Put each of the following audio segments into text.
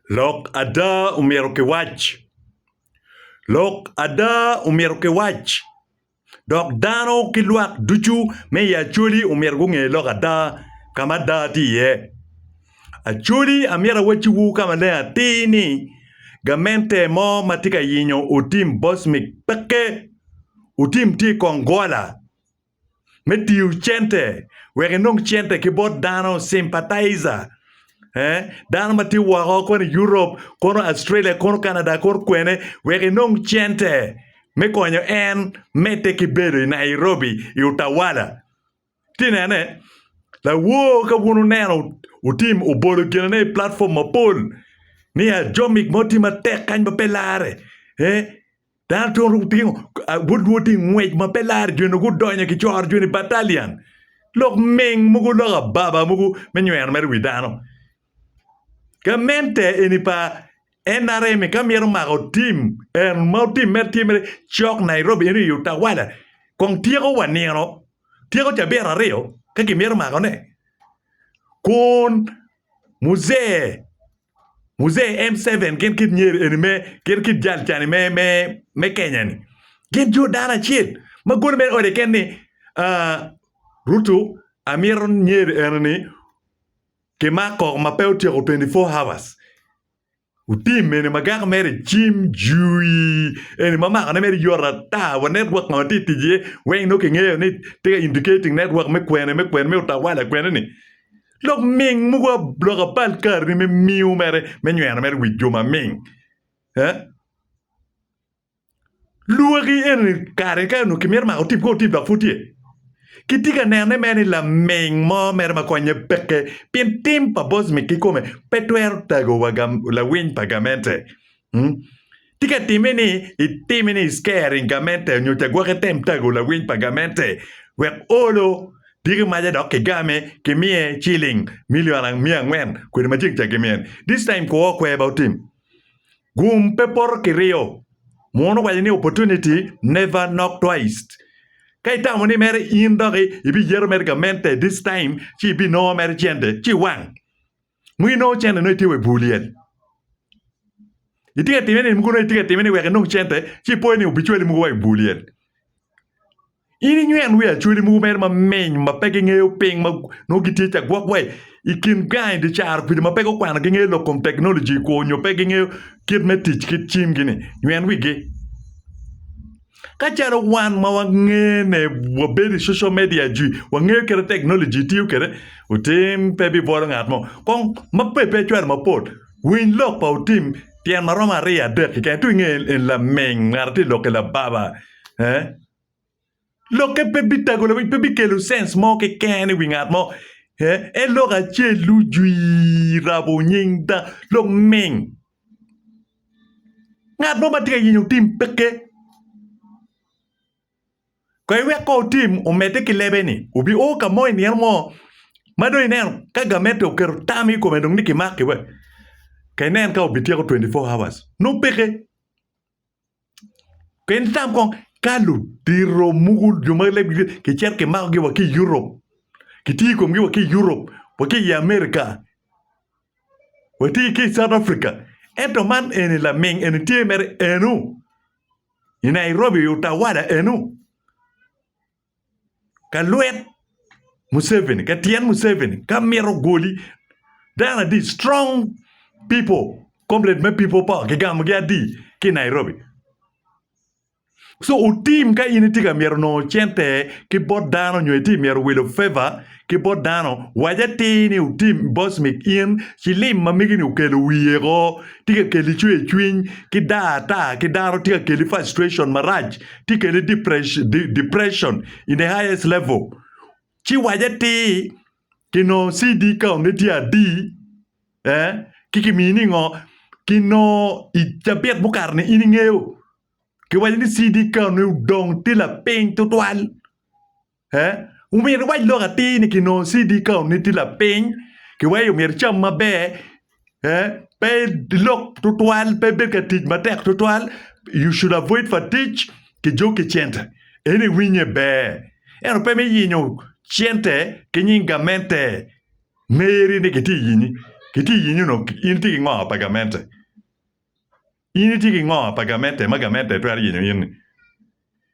Lok ada omyero kiwac. Lok ada omyero kiwac, dok dano ki lwak ducu me i Acholi omyero gunge lok ada ka ma ada tye iye. Acholi amyero awacciwu ka maleng atir ni gamente mo ma tye ka yenyo Otim Bosmic pekke. Otim tye i kong gola. me tiyo cente wek inong cente ki bot dano sympathizer ee dano ma tye woko koni i Europe kono i Australia kono i Canada kono kwene wek inong cente me konyo en medde ki bedo i Nairobi i utawala. Iti nene lawor ka bun oneno otim obolo ginene i platform mapol ni ajomik mo tye matek kany ma pe larre ee. Dano tun ru gutingo but nwo ti ngwec ma pe lar joni gudonyo ki coro joni batalian lok ming mugu lok ababa mugu me nywero mere wi dano. Gamente eni pa NRM ka myero mako tim en ma tim mere tye mere cok Nairobi eno i utawala kong tyeko wa nino tyeko cabit aryo ka kimyero mako ne kun muzee Muzee M. Seven gin kit nyer eni me, gin kit jal cani me, me, me Kenya ni. Gin jo dano acel ma golo mere ode ken ni, ah, Ruto amito nyer eno ni kimako ma pe otyeko twenty four hours. Otim eni magako mere cim jui eni ma makone mere yot ata wa network ma watye tic iye weng nongo kingeyo ni tye ka indicating network me kwene, me kwene, me utawala kwene ni. Lok ming mogo lok apal karri me miu mere me nyweno mere wi jo maming. Eh? Lwoki eni kare ka onongo kimito mako tip ko tip dok pud tye. Kitye ka nene mere ni laming mo mere ma konye peke pien tim pa Bosmic kikome pe twero tagowa gam, lawiny pa gamente. Tika itimme ni itime ni isker i gamente nyo cagwok item tago lawiny pa gamente wek olo diki maca dok kigame kimiye ciling milion miya angwen kwede ma ceng ca gimiyo ni? This time kwo kwer ba otim. Gum pe poto ki riyo. Muno owaco ni opportunity never knock twice. Ka itamo ni mere in dok ibiyeto mere gamente this time ci ibinongo mere cente ci iwang. Nongo inongo cente nongo itye wa i bur lyel. Itye ka timme ni mogo nongo itye ka timme ni wek inong cente ci ipoyo ni obicwali mogo wa i bur lyel. In inywen wi acwali mogo mere maminy ma pe gingeyo piny ma nongo gitye ca gwok wa i kin gang i dye caro kwidi ma pe gukwano gingeyo lok kom teknoloji kwo nyo pe gingeyo kit me tic ki cimgi-ni. Nywen wigi. Ka calo wan ma wangene wabedo i social media jwi wangeyo kite teknoloji tiyo kede otim pe bi bolo ngat mo kong ma pe pe cwalo mapol winy lok pa otim tyen ma romo aryo adek keken to inge en laming ngat ti lok ki lababa eh lokke pe bi tago lawiny pe bi kelo sense mo keken i wi ngat mo eh en lok acel lujwi rabo nying da luming Ngat mo ma tye ka yenyo otim peke kong iwek kong otim omedde ki lebe-ni obi o ka mo i nino mo ma dong ineno ka gamente oketo tam i kome dong ni kimaki wek ka inen ka obityeko twenty four hours nongo peke. Pien itam kong ka ludito mogo jo ma kicito kimakogi wa ki i Europe kitiyo i komgi wa ki i Europe wa ki i America watye ki i South Africa ento man eni laming eni tye mere eno i Nairobi, Utawala eno. ka lwet Museveni ka tyen Museveni ka mito goli dano adi strong pipo komrade me pipo power kigamogi adi ki i Nairobi cu otim ka in itye ka myero nongo cente ki bot dano nyo itye ka myero wilo feva ki bot dano, wac atir ni otim boss mi in cilim ma mege ni okelo wiye ko tye ka keli cwer cwiny ki dar ata ki dano tye ka keli frustration marac tye ka keli depression in the highest level ci wac atir ki nongo CD count ne tye adi eh ci ki mini ngo ki nongo i cabit mukato ni in ingeyo ki waco ni CD count ne odong tye lapiny tutwal Ee, omyero iwac lok atir ni kinongo CD kaunni tye lapiny, ki wai omyero icam maber, ee, pe ilok tutwal, pe ibed ka tic matek tutwal, you should avoid fatigue ki jok ki cente. En iwinye ber. Ento pe me yenyo cente ki nying gamente meri ni kitye yinyi. Kitye yinyi onongo in itye ki ngo pa gamente? In itye ki ngo pa gamente ma gamente twero yenyo in ni?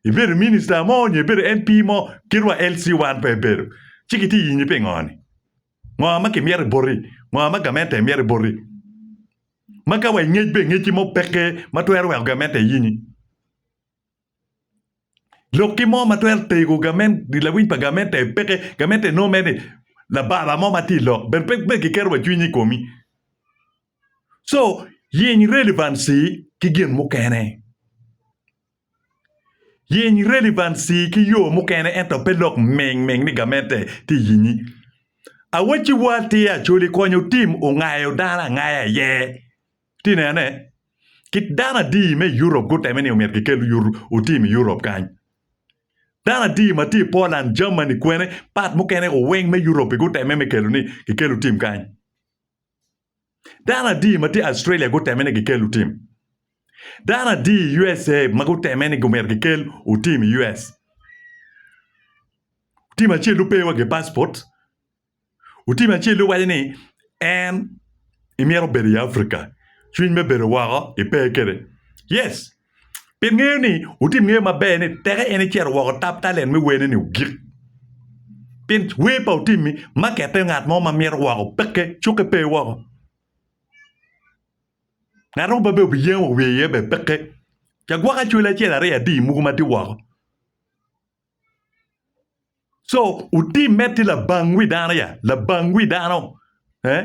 Ibedo minister mo nyo ibedo MP mo kit wa LC wan pe ibedo ci kitye yinyi pingo ni? Ngo ma kimyero boti? Ngo ma gamente myero boti? Ma ka wa ingec be ingec ki mo peke ma twero weko gamente yenyi? Lok ki mo ma twero tego lawiny pa gamente peke gamente nongo mere ni labara mo ma tye i lok bene pe giketo wa cwiny i komi co yeny relevancy ki gin mukene yeny relevancy ki yo mukene ento pe lok ming ming ni gamente tye i yenyi awaciwa tye Acholi konyo tim ongayo dano angaya iye. Ci inene, kit dano adi me i Europe gutemme ni omyero gikel otim i Europe kany. Dano adi ma tye i Poland, Germany kwene, part mukene oweng me Europe gutemme me kelo ni gikel otim kany. Dano adi ma tye i Australia gutemme ni gikel otim. Dano adi i USA ma gutemme ni omyero gikel otim i US. Otim acel-lu pe iwa gi passport, Otim acel-li waco ni en imito bedo i Africa, cwiny me bedo woko ipe kwede. Yes, pi ngeyo ni otim ngeyo maber ni teke en icito woko tap talent me werne ni ogik. Pien wer pa otim-mi makette ngat mo ma mito woko peke, cukke pe woko. Ngat mo pe bene obiyen wa wiye iye bene peke. Ca gwok acwali acel aryo adi muku ma tye woko. Co otimme tye labang wi dano ya labang wi dano ee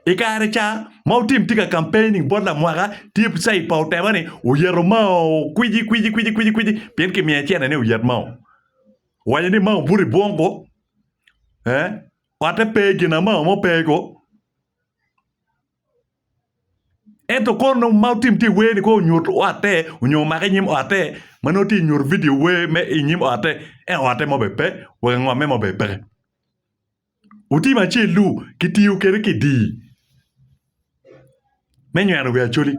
i kare ca ma otim tye ka campaigning bot lamwaka tye cid pa otema ni oyito mao kwiji kwiji kwiji pien kimiyo aye cente ni oyit mao owaco ni mao obuto i bwongo ee ote pe gin mao mo pe ko. Ento kor nongo ma otim tye i wer-ni kong onyut otte nyo omake i nyim otte ma nongo tye ka nyuto vidio wer me i nyim otte ento otte mo bene pe wa angomme mo bene peke otim acel-lu kitiyo kwede kidii me nyweno wi Acholi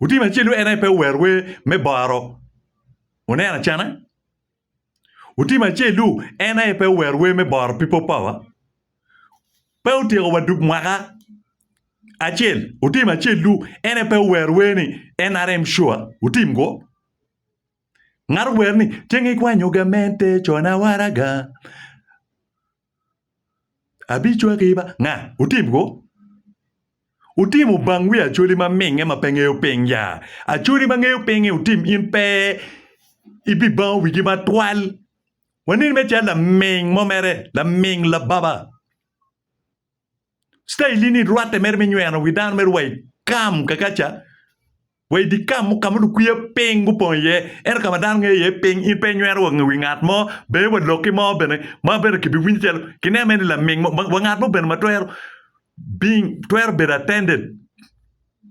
otim acel-lu en aye pe owero wer me boro wuneno acana. Otim acel-lu en aye pe owero wer me boro People Power, pe otyeko wa dug mwaka acel. Otim acel-lu en aye pe owero wer ni NRM sure, otim-gu. Ngat owero ni, Ceng ikwanyo gamente cona waraga. Abicwaki ba nga? Wutim kwo? Wutim ubang wi Acholi ma minge ma pe ngeyo piny ya? Acholi ma ngeyo pinge wutim in pe ibibango wigi matwal? Waneni me cal laming mo mere, laming lababa. Citailli ni rwatte mere me nyweno wi dano mere wa i kam Kakaca, wa i dye kam mo ka ma lukwiya piny gupong iye, ento ka ma dano ngeyo iye piny. In pe inyweno wa wi ngat mo, bene wa lokki mo bene ma bene kibiwinyo calo kineno mere ni laming mo. Wa ngat mo bene ma twero bing, twero bedo attended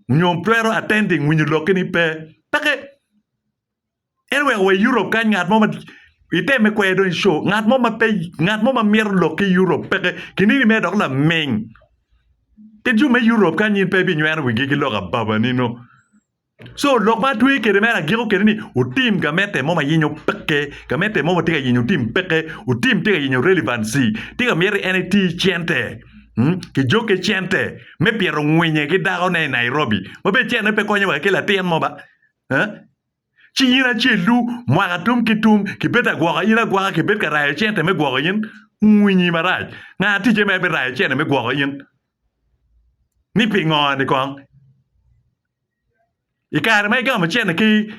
nyo twero attending winyo lokki-ni pe. Peke. Ento wek wa i Europe kany ngat mo ma iteme kwede dong i show ngat mo ma pe ngat mo ma mito lok ki Europe peke kinini mere dok laming pi jo me Europe kany in pe ibinyweno wigi ki lok ababanino so lok ma atweyo kwede mere agiko kwede ni wutim gamete mo ma yenyo peke gamete mo ma tye ka yenyo wutim peke wutim tye ka yenyo relevancy tye ka myero en eti cente kijoke cente me pito ngwinye ki dakone i Nairobi ma bene cente pe konyo wa ki latin mo ba. Ci in acel-lu, mwaka tum ki tum, kibed agwoka in agwoka, kibed ka rayo cente me gwoko in, wunyi marac, nga ticce ma ebirayo cente me gwoko in? Ni pingo-ni kong? I kare ma igamo cente ki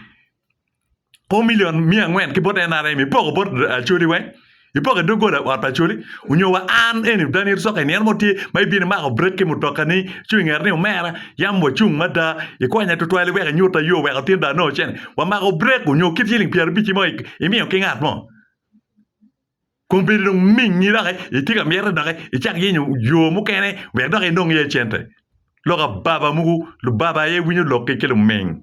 o milion miya angwen ki bot NRM, ipoko bot Acholi weng? Ipoko i doggola ot pa coli, onyo wa an eni dani ito soka i nino mo tye ma ibino imako brek ki mutoka ni cung i ngeta ni omera yam wa cung mada ikonya tutwal iweko inyuta yo weko tin dano onongo cene wa mako brek onyo kit ciling pyera abici mo imiyo ki ngat mo kong bedo dong mingi doki itye ka mite doki icak yenyo yo mukene wek dok inong iye cente lok ababa mogo lubaba aye winyo lok ki luming.